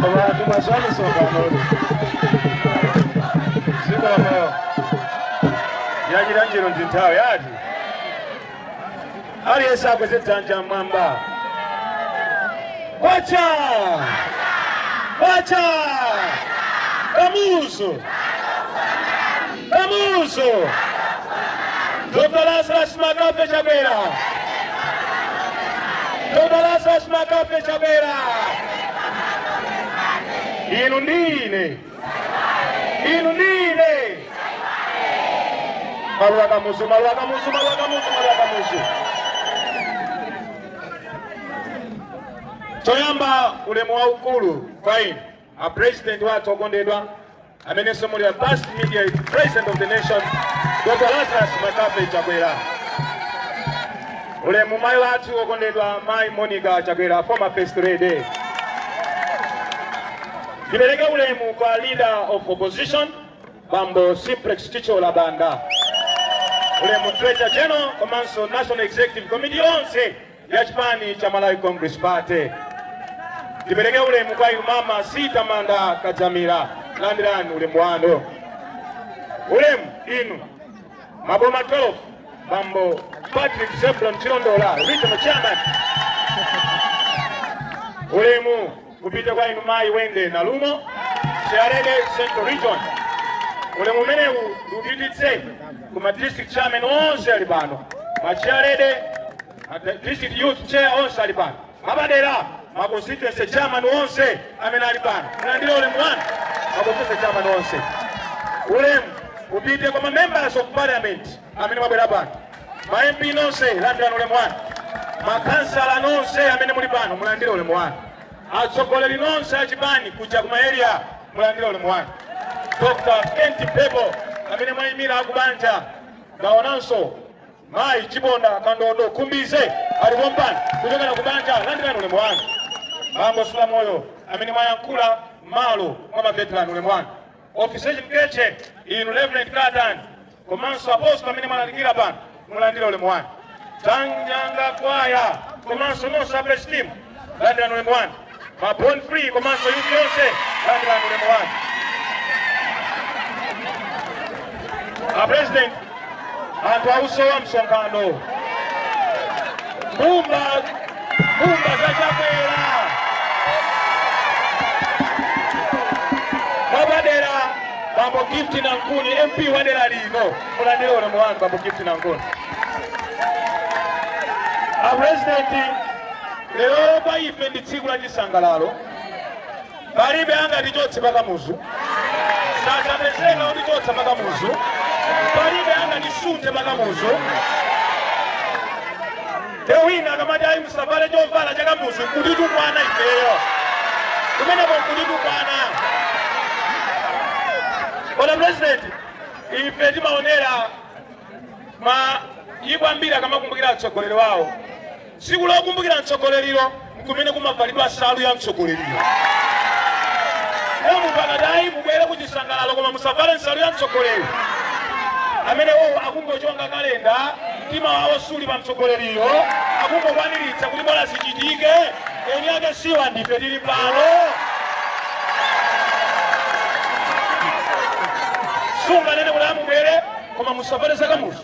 abantu basanyuse okwanoli zikomo yagira njiro ndi nthawi ati aliyense akweze dzanja mmwamba kwacha kwacha kamuzu kamuzu dr lazarus mccarthy chakwera dr lazarus mccarthy chakwera inu ndi ine inu ndi ine maluwa kamuzu maluwa kamuzu maluwa kamuzu maluwa kamuzu choyamba ulemu waukulu kwa inu a president wathu okondedwa amenenso muli a past immediate president of the nation dr lazarus mccarthy chakwera ulemu mayi wathu okondedwa mayi monica chakwera former first lady Tipereke ulemu kwa leader of opposition Bambo Simplex Chithyola Banda, ulemu Treasurer General komanso National Executive Committee yonse ya chipani cha Malawi Congress Party. Tipereke ulemu kwa inu mama C Tamanda Kadzamira, landirani ulemu wanu. Ulemu inu maboma 12 Bambo Patrick Zebron Chilondola, regional chairman. Ulemu upite kwa inu mayi wendy nalumo chairlady central region ulemu umenewu ndiupititse ku ma district chairman onse ali pano ma chairlady ma district youth chair onse ali pano mwapadera ma constituency chairman onse amene ali pano mulandire ulemu wanu ma constituency chairman onse ulemu upite kwa ma members of parliament amene mwabwera pano ma mp nonse landirani ulemu wanu makhansala nonse amene muli pano mulandire ulemu wanu atsogoleri nonse achipani kuja kuma area mulandire ulemu wanu dr kent mphepo amene mwayimira akubanja ndaonanso mayi chiponda kandodo khumbize ali pompano kuchokera kubanja landirani ulemu wanu bambo sulamoyo amene mwayankhula malo mwa maveterani ulemu wanu Officiating clergy inu Reverend Katani komanso apostle amene mwalalikira pano mulandire ulemu wanu. Tanyanga kwaya komanso nonse a praise team landirani ulemu wanu. Ma born free komanso youth yonse landirani ulemu wanu. A president anthu ausowa msonkhano mbumba mbumba za chakwera mwapadera bambo gift nankhuni mp wa dera lino mulandire ulemu wanu bambo gift nankhuni apurezidenti lero kwa ife ndi tsiku la chisangalalo palibe angatichotse pa kamuzu sadzapezeka kutichotsa pa kamuzu palibe angatisunthe pa kamuzu nde wina akamati ayi musavale chovala cha kamuzu kutitukwana ifeyo kumeneko kutitukwana Your Honour president ife timaonera maiko ambiri akamakumbukira atsogoleri wawo Tsiku lokumbukira mtsogoleri'lo n'kumene kumavalidwa nsalu ya mtsogoleri'yo. Lero munthu akati, Ayi, mubwere ku chisangalalo koma musavale nsalu ya mtsogoleri, amenewowo akungochonga kalenda, mtima wawo suli pa mtsogoleri'yo, akungokwaniritsa kuti bola zichitike, eni ake siwa, ndife tiri pano. Sunganene kuti, Ayi, mubwere koma musavale zakamuzu.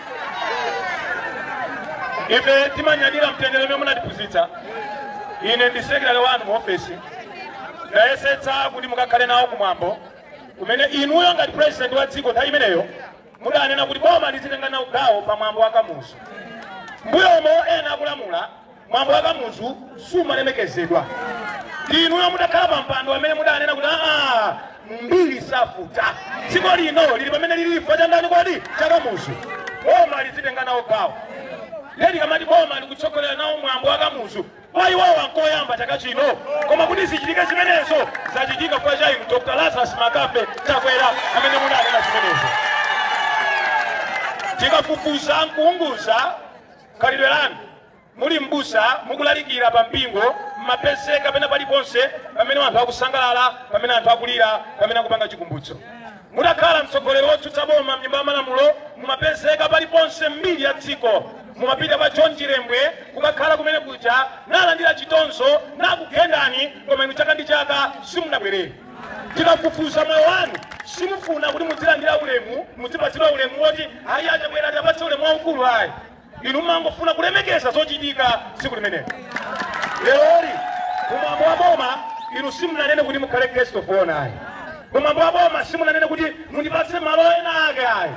ife timanyadira mtendere omwe munatiphunzitsa ine ndi sekretary wanu mu ofesi ndayesetsa kuti mukakhale nawo kumwambo kumene inuyo ngati president wa dziko nthawi imeneyo mudanena kuti boma lizitenga nawo gawo pa mwambo wa kamuzu mbuyomo ena akulamula Mwambo wa Kamuzu sumalemekezedwa inuyo mutakhala pa mpando amene mudanena kuti aa mbiri safuta dziko lino lili pamene lili chifukwa cha ndani kodi cha Kamuzu boma lizitenga nawo gawo lero tikamati boma likutsogolera nawo mwambo wa Kamuzu kwa iwowa nkoyamba chaka chino koma kuti zichitike zimenezo zachitika kamba ka inu Dr. Lazarus McCarthy Chakwera amene mudanena zimenezo tikafufuza nkuunguza khalidwe lanu Muli m'busa, mukulalikira pa mpingo, m'mapezeka pena paliponse pamene anthu akusangalala, pamene anthu akulira, pamene akupanga chikumbutso. Mutakhala mtsogoleri wotsutsa boma mnyumba ya malamulo, mumapezeka paliponse m'mbiri ya dziko. Mumapita kwa John Chilembwe kukakhala kumene kuja, nalandira chitonzo, nakugendani, koma inu chaka ndi chaka simunabwerere. Tikafufuza moyo wanu, simufuna kuti mudzilandira ulemu, mudzipatsidwa ulemu woti ayi a Chakwera tiwapatse ulemu waukulu ayi. inu mumangofuna kulemekeza zochitika tsiku limenelo leroli kumwambo wa boma inu simunanene kuti mukhale guest of honor ayi kumwambo wa boma simunanene kuti mundipatse malo ena ake ayi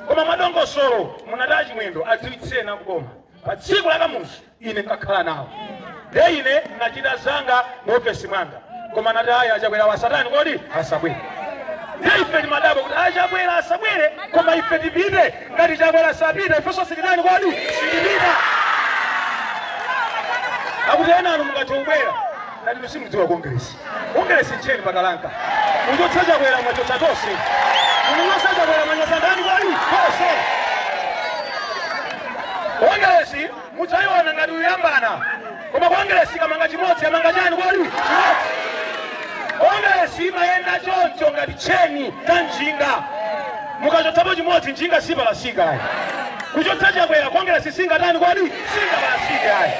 koma mwadongosolo munati a Chimwendo adziwitseni a kuboma pa tsiku la kamuzu ine nkakhala nawo nde ine ndinachita zanga mu ofesi mwanga koma nati ayi a Chakwera asatani kodi asabwere nde ife timadabwa kuti a Chakwera asabwere koma ife tipite ngati chakwera asapita ifenso sititani kodi sitipita akuti ena anu mukatibwera ngati musimudziwa kongresi kongresi ncheni pakalanka mwachotsa chakwera mwachotsa tonse mwachotsa chakwera mwachotsa ndani kodi tonse kongresi mudzaiona ngati uyambana koma kongeresi ikamanga chimodzi yamanga chani kodi chimodzi kongeresi imayenda choncho ngati tcheni cha njinga mukachotsapo chimodzi njinga sipalasika ayi kuchotsa chakwera kongeresi singatani kodi singapalasike ayi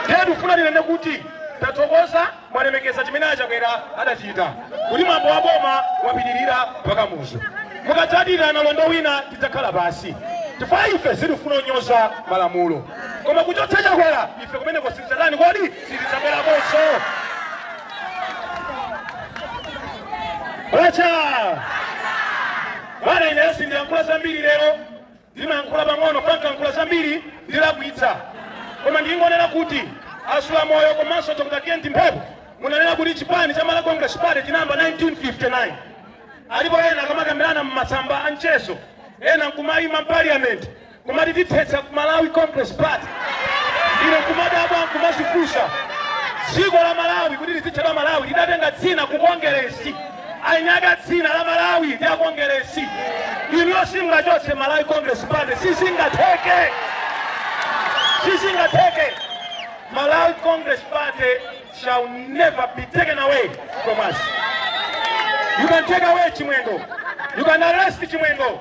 ndiye tikufuna tinene kuti tathokoza mwalemekeza chimene a Chakwera adachita kuti mwambo wa boma wapitirira pa Kamuzu. Mukadzadira nalondo wina tidzakhala pansi chifukwa ife sitifuna kunyoza malamulo, koma kuchotsa Chakwera ife kumeneko sitidzatani kodi sitidzabwerakonso. Kwacha! Bwana ineyo sindiyankhula zambiri lero ndimayankhula pang'ono chifukwa nkayankhula zambiri ndilakwitsa koma ndingonena kuti asula moyo komanso dr kent mphepo munanena kuti chipani cha malawi congress party chinayamba 1959 alipo ena akamakambirana mmasamba a mchezo ena nkumayima mpaliyamenti kumati tithetsa malawi congress party ine nkumadabwa nkumazifunsa dziko la malawi kuti lizitchedwa malawi lidatenga dzina ku kongeresi eniake a dzina la malawi ndi akongeresi inuyo simungachotse malawi congress party sizingatheke sizingatheke malawi congress party shall never be taken away from us you can take away chimwendo you can arrest chimwendo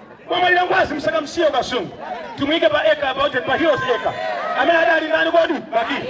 Wamwalira ngwazi musakamusiye ku kasungu timuike pa eka apa uje pa heroes acre amene adali ndani kodi bakili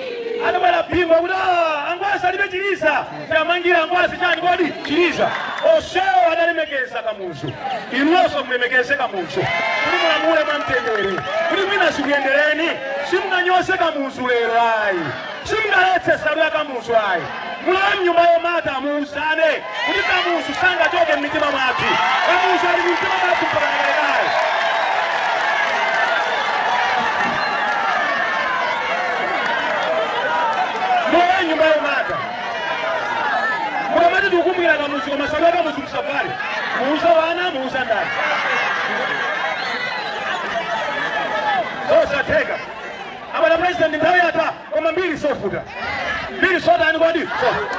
adabwera bingu kuti "Ah, angwazi alibe chiliza tiwamangire angwazi chani kodi chiliza onsewo adalemekeza kamuzu inunso mulemekeze kamuzu kuti mulamule mwamtendere kuti mwina zikuyendereni simunganyoze kamuzu lero ayi Simungaletse nsalu ya Kamuzu ayi. Mulowe mnyumba yomata muuzane kuti Kamuzu sangachoke mmitima mwathu. Kamuzu ali mmitima mwathu mpaka kalekale. Mulowe mnyumba yomata. Mukamati tikukumbukira Kamuzu koma nsalu ya Kamuzu musavale. Muuza wana, muuza ndani. Zosatheka. abwana president nthawi yatha koma mbiri sofuta mbiri sotani kodi sofuta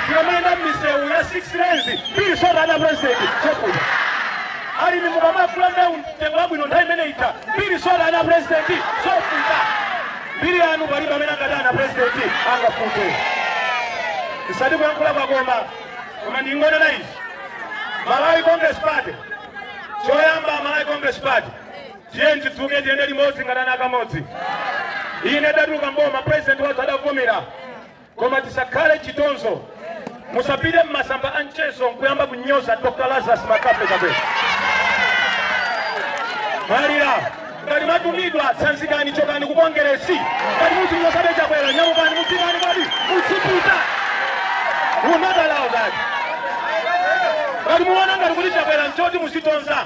tikamayenda mmisewu ya 6 lanes mbiri sotani a president sofuta alimi mukamagula mbewu mtengo wabwino nthawi imene ija mbiri sotani a president sofuta mbiri yanu palibe amene angatani a president angafute osati kuyankhula kwakoma koma ndingonena izi malawi congress party choyamba malawi congress party Tiyeni tidzuke tiyende limodzi ngati ana akamodzi. Inde tatuluka m'boma president wathu adavomera koma tisakhale chitonzo. Musapite m'masamba a mchezo nkuyamba kunyoza Dr. Lazarus McCarthy Chakwera. Malira ngati mwatumidwa tsanzikani chokani ku Kongeresi ngati muzinyozabe Chakwera nyamukani mudzikani kodi mudzipita. We will not allow that. Ngati muona ngati kuti Chakwera nchoti muzitonza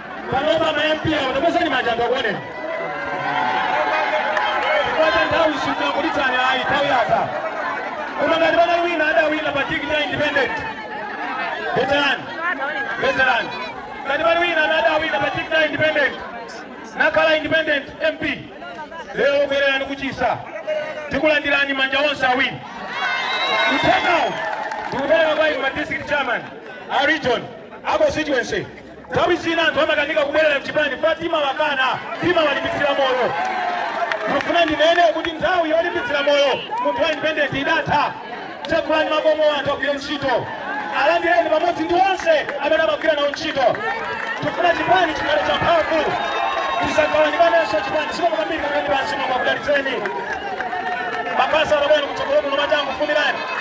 panopa ma MP awo takwezani manja anthu akuoneni kwatha nthawi sindikuitanani ayi nthawi yatha koma ngati pali wina adawina pa tikiti ya independent veterani veterani ngati pali wina amene adawina pa tikiti ya independent nakhala independent MP lero bwererani kuchisa tikulandirani manja onse awiri uthengawo ndikupereka kwa inu ma district chairman a region a constituency Nthawi zina anthu amakanika kubwerera mchipani chifukwa timawakana, timawalimbitsira moyo. Ndifuna ndinene kuti nthawi yolimbitsira moyo munthu wa independent idatha. Tsekulani makomo anthu agwire ntchito, alandireni pamodzi ndi onse amene amagwira nawo ntchito. Tifuna chipani chikhale cha mphamvu, tisagawanikanenso chipani zikomo kwambiri khalani pansi Mulungu akudalitseni makhansala bwerani kutsogolo kuno matangu fumirani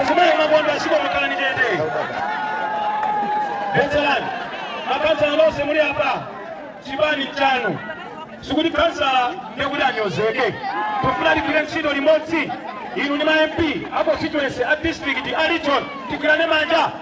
Azimayi mabondo zikomo khalani chete. Veterani, makhansala nonse muli apa, chipani chanu. Sikuti khansala ndekuti anyozeke. Tufuna tigwire ntchito limodzi. Inu ndi ma MP, a constituency, a district, a region, tigwirane manja.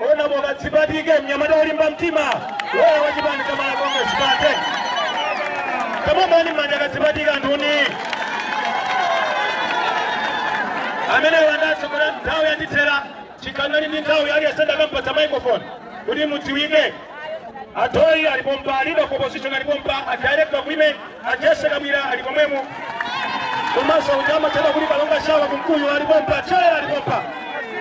Honourable Kadzipatike mnyamata wolimba mtima loya wa chipani cha Malawi Congress Party. Tamuombani manja a Kadzipatike anthuni. Amene wandatso kuti nthawi yandithera chikhala ndili ndi nthawi aliyense ndakampatsa microphone kuti mudziwike Atoi ali pompa, leader of opposition ali pompa, a director of women, a Jessie Kabwila ali pomwemo. Komanso uja amatchedwa kuti Kalonga Shawa kumkuyu ali pompa, chair ali pompa.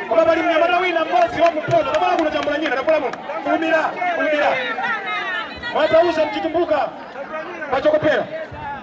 Koma pali mnyamata wina mmodzi wa kumpoto, koma kuno chambula nyina takola muno. Kulumira, kulumira. Mwatauza mchitumbuka pachoko pera.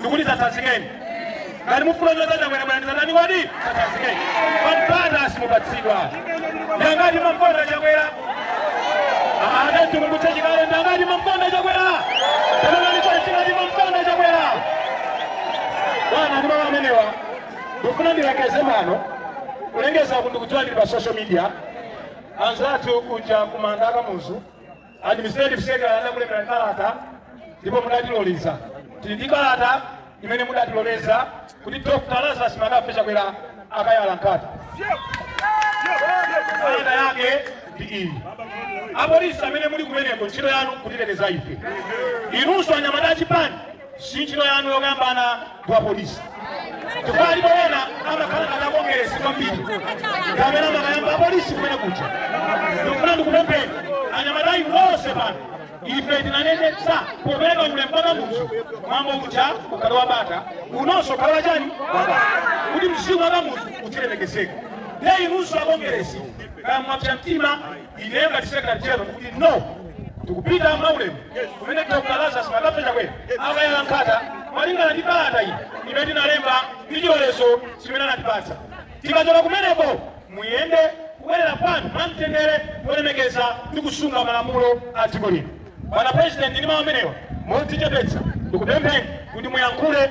ndikuti dzatsanzikeni ngati mufuna kunyoza Chakwera bwera ndizatani kodi dzatsanzikeni mpata simupatsidwa ndangati mumamkonda Chakwera adatikumbutsa chikale ndangati mumamkonda Chakwera tamanani chachingati mumamkonda Chakwera bwana ndi mawu amenewa ndikufuna ndilengeze pano kulengeza kuti ndikudziwa ndili pa social media anzathu kuja kumanda a Kamuzu administrative secretary adakulembera kalata ndipo mudatiloleza tili ndi kalata imene mudatiloleza kuti dr lazarus mccarthy chakwera akayala nkhata kalata yake ndi iyi apolisi amene muli kumeneko ntchito yanu kutiteteza ife inunso anyamata achipani sinchito yanu yokambana kwa polisi chifukwa alipo ena amakhala ngati akongeresi kwambiri kapena amakayamba apolisi kumene kuja ndikufuna ndikupempheni anyamatayi wonse pano ife tinanenetsa popereka ulemu pa kamuzu mwambo uja ukhala wabata unonso ukhala wachani wabata kuti mzimu wa kamuzu uzilemekezeka nde inunso akongeresi kaya mwapsa mtima Ineyo ngati Secretary General ndikuti no tikupita mwaulemu kumene Dr. Lazarus McCarthy Chakwera akayala nkhata malingana ndi kalata iyi imene tinalemba ndi chilolezo chimene anatipatsa. Tikachoka kumeneko muyende kubwerera kwanu mwamtendere kulemekeza ndi kusunga malamulo a dziko lino. Bwana President, ndi mawu amenewa modzichepetsa ndikupempheni kuti muyankhule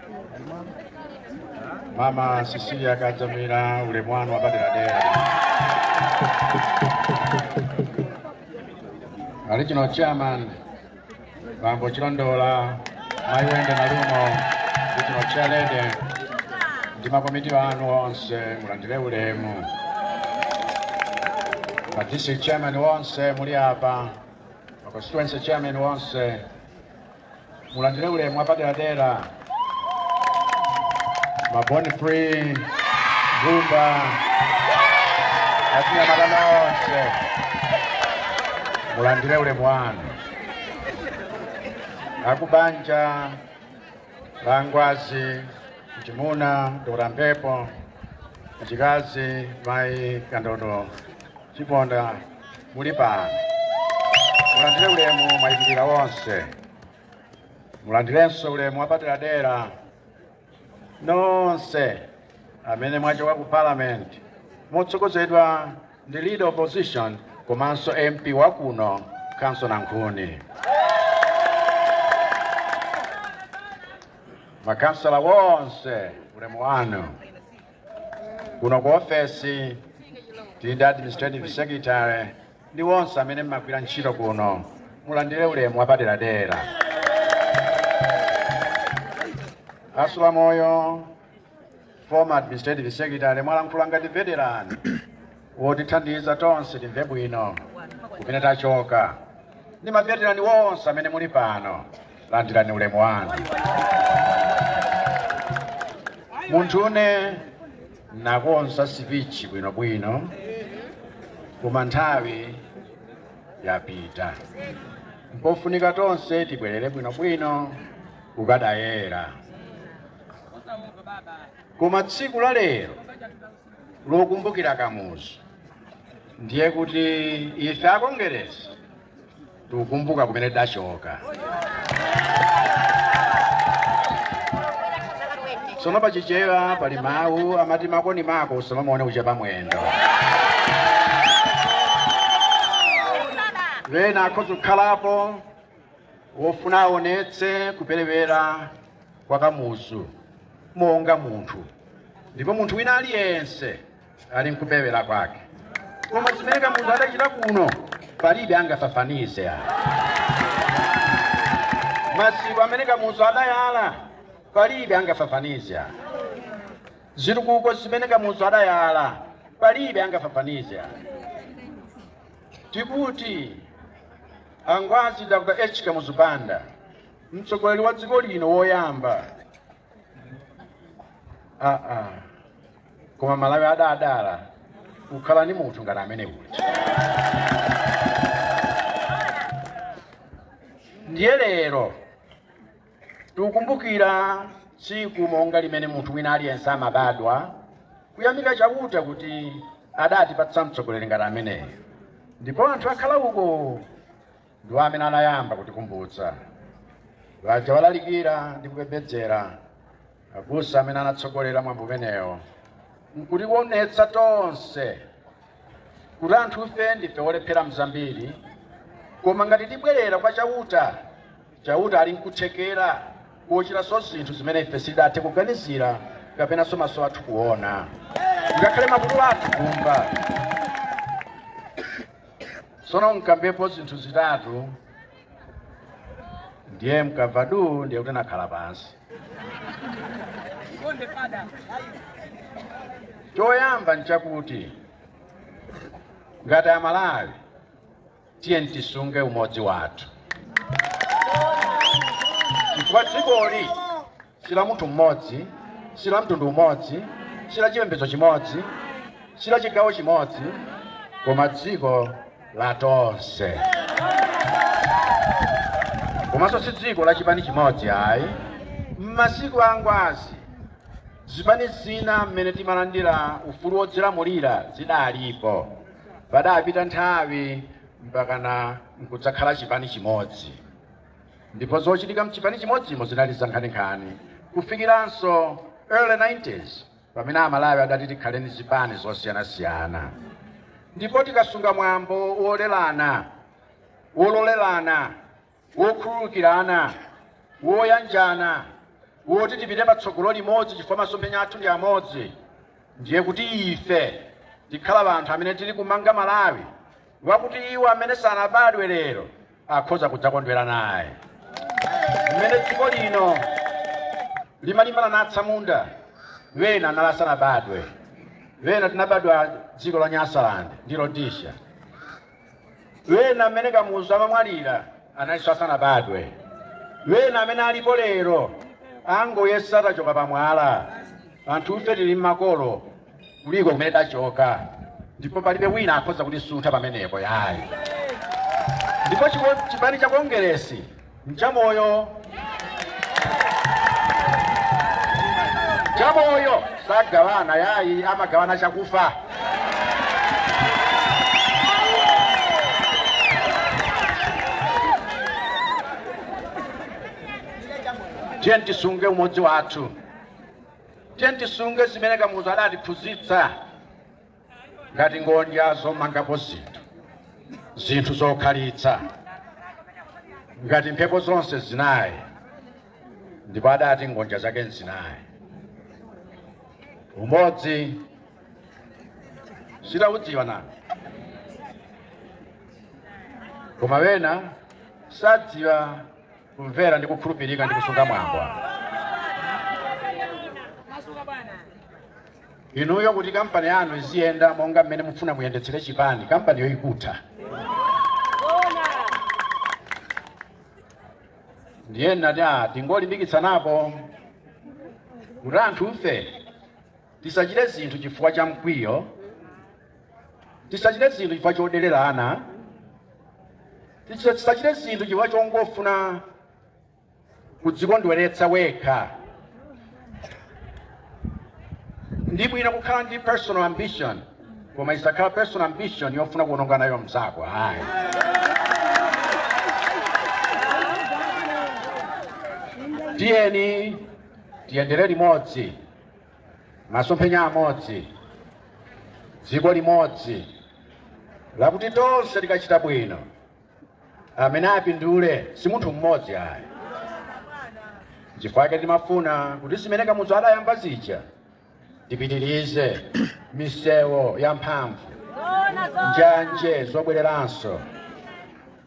Mama Cecilia Kadzamira ulemu wanu wapaderadera. Regional chairman Bambo Chilondola Mai Wendy Nalumo regional chairlady ndi makomiti anu onse mulandire ulemu. Ma district chairman onse muli apa, ma constituency chairman onse mulandire ulemu wapaderadera ma born free gumba achinyamata nonse mulandire ulemu wanu akubanja la ngwazi mchimuna dora mpepo mchikazi mai kandodo chiponda muli pano mulandire ulemu mwayimirira wonse mulandirenso ulemu wapaderadera nonse amene mwachoka ku parliament motsogozedwa ndi leader opposition komanso mp wakuno khansala nankhuni makhansala wonse ulemu wanu kuno ku ofesi tili ndi administrative secretary ndi wonse amene mmagwira ntchito kuno mulandire ulemu wapaderadera a sulamoyo former administrative secretary mwalankhula ngati veteran wotithandiza tonse timve bwino kumene tachoka ndi maveterani wonse amene muli pano landirani ulemu wanu munthune nakonza sipichi bwinobwino koma nthawi yapita mpofunika tonse tibwerere bwinobwino kukadayera koma tsiku la lero lokumbukira kamuzu ndiye kuti ife akongeresi tikukumbuka kumene tachoka sono pachichewa pali mawu amati mako ndi mako usamamuone kuchepa mwendo ena akhoza kukhalapo wofuna aonetse kuperewera kwa kamuzu monga munthu ndipo munthu wina aliyense ali nkuperewera kwake koma zimene kamuzu adachita kuno palibe angafafanize maziko amene kamuzu adayala palibe angafafanize zitukuko zimene kamuzu adayala palibe angafafanize tikuti A Ngwazi Dr. H. Kamuzu Banda, mtsogoleri wa dziko lino woyamba. Koma Malawi adadala kukhala ndi munthu ngati amene uja. Ndiye lero tikukumbukira tsiku monga limene munthu wina aliyense amabadwa kuyamika chauta kuti adatipatsa mtsogoleri ngati ameneyo ndipo anthu aku alauko ndiwo amene anayamba kutikumbutsa aja alalikira ndi kupembedzera abusa amene anatsogolera mwambo umenewo nkutionetsa tonse kuti anthufe ndife olephera mzambiri koma ngati tibwerera kwa chauta Chauta ali nkuthekera kochitanso zinthu zimene ife sitidathe kuganizira kapenanso maso athu kuona, ngakhale makutu athu kumva. Tsono nkambepo zinthu zitatu, ndiye mukamva duu, ndiye kuti nakhala pansi. Choyamba nchakuti ngati Amalawi tiyeni tisunge umodzi wathu chifukwa dzikoli si la munthu mmodzi si la mtundu umodzi si la chipembedzo chimodzi si la chigawo chimodzi koma dziko la tonse komanso si dziko la chipani chimodzi ayi m'masiku a ngwazi zipani zina mmene timalandira ufulu wodzilamulira zidalipo Padapita nthawi mpakana nkudzakhala chipani chimodzi, ndipo zochitika mchipani chimodzimo zinali zankhaninkhani kufikiranso early 90s pamene Amalawi adati tikhale ndi zipani zosiyanasiyana, ndipo tikasunga mwambo wolerana wololerana wokhululukirana, woyanjana, woti tipite patsogolo limodzi chifukwa masomphenya athu ndi amodzi, ndiye kuti ife tikhala anthu amene tili kumanga Malawi wakuti iwo amene sanabadwe lero akhoza kudzakondwera naye. Mmene dziko lino limalimbana na atsamunda, wena anali asanabadwe, wena tinabadwa dziko la Nyasaland ndi Rhodesia. wena mmene kamuzu amamwalira analinso asanabadwe wena amene alipo lero angoyesa tachoka pamwala anthufe tili m'makolo kuliko kumene tachoka ndipo palibe wina akhoza kutisuntha pamenepo yayi ndipo chiko- chipani cha kongeresi nchamoyo chamoyo sagawana yayi amagawana chakufa tiye tisunge umodzi wathu tiye tisunge zimene kamuzu adatiphunzitsa ngati ngondya zomangapo zinthu zinthu zokhalitsa ngati mphepo zonse zinayi ndipo adati ngondya zake nzinayi umodzi sitaudziwa nanu koma wena sadziwa kumvera ndi kukhulupirika ndi kusunga mwambo inuyo kuti kampani yanu iziyenda monga mmene mufuna muyendetsere chipani kampaniyo ikutha ndiye nnati tingolimbikitsanapo kuti anthufe tisachite zinthu chifukwa cha mkwiyo Tisachite zinthu chifukwa choderera­na. Tisachite zinthu chifukwa chongofuna kudzikondweretsa wekha. Ndi bwino kukhala ndi personal ambition, koma isakhala personal ambition yofuna kuononga nayo mzako. Ayi. Tiyeni tiyendere limodzi. Masomphenya amodzi, dziko limodzi lakuti tonse tikachita bwino, amene apindule si munthu mmodzi ayi. Chifukwa chake timafuna kuti zimene Kamuzu adayamba zija tipitirize misewu yamphamvu, njanje zobwereranso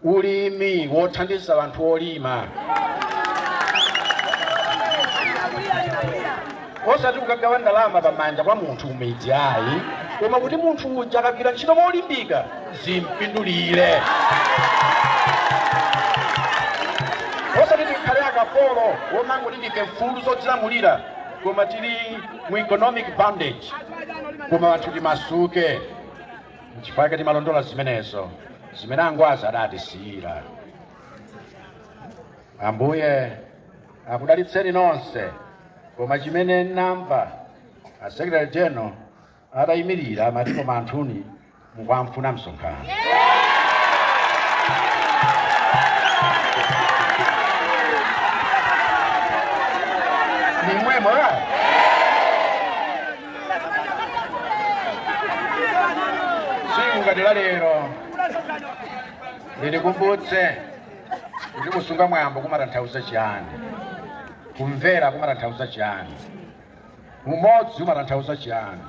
ulimi wothandiza anthu olima osati kukagawa ndalama pamanja kwa munthu kumidzi ayi koma kuti munthu uja akagwira ntchito molimbika zimpindulire osati tikhale akapolo womangoti ndife mfulu zodzilamulira koma tili mu economic bondage koma anthu timasuke Nchifukwa chake timalondola zimenezo zimene angwazi adatisiyira. Ambuye akudalitseni nonse, koma chimene namva a Secretary General atayimirira amati koma anthuni mukamfuna msonkhano. Ni mwemo. tsiku ngati la lero litikumbutse kuti kusunga mwambo kumatanthauza chiyani kumvera kumatanthauza chiyani umodzi umatanthauza chiyani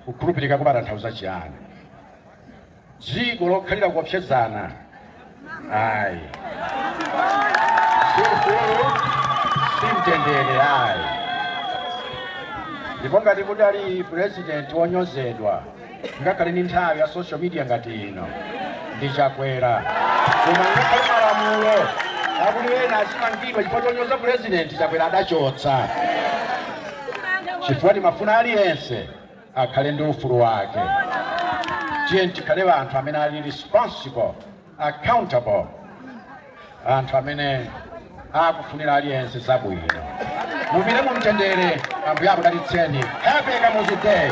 kukhulupirika kumatanthauza chiyani dziko lokhalira kuopsezana ayi si ufulu si mtendere ayi ndipo ngati kudali purezidenti wonyozedwa ngakhale ni nthawi ya social media ngati ino ndi chakwera koma ngakhale malamulo akuti ena azimangidwa chifukwa chonyoza purezidenti chakwera adachotsa chifukwa timafuna aliyense akhale ndi ufulu wake. Tiyeni tikhale anthu amene ali responsible, accountable, anthu amene akufunira aliyense zabwino. Mupite mu mtendere, Ambuye akudalitseni. Happy Kamuzu Day!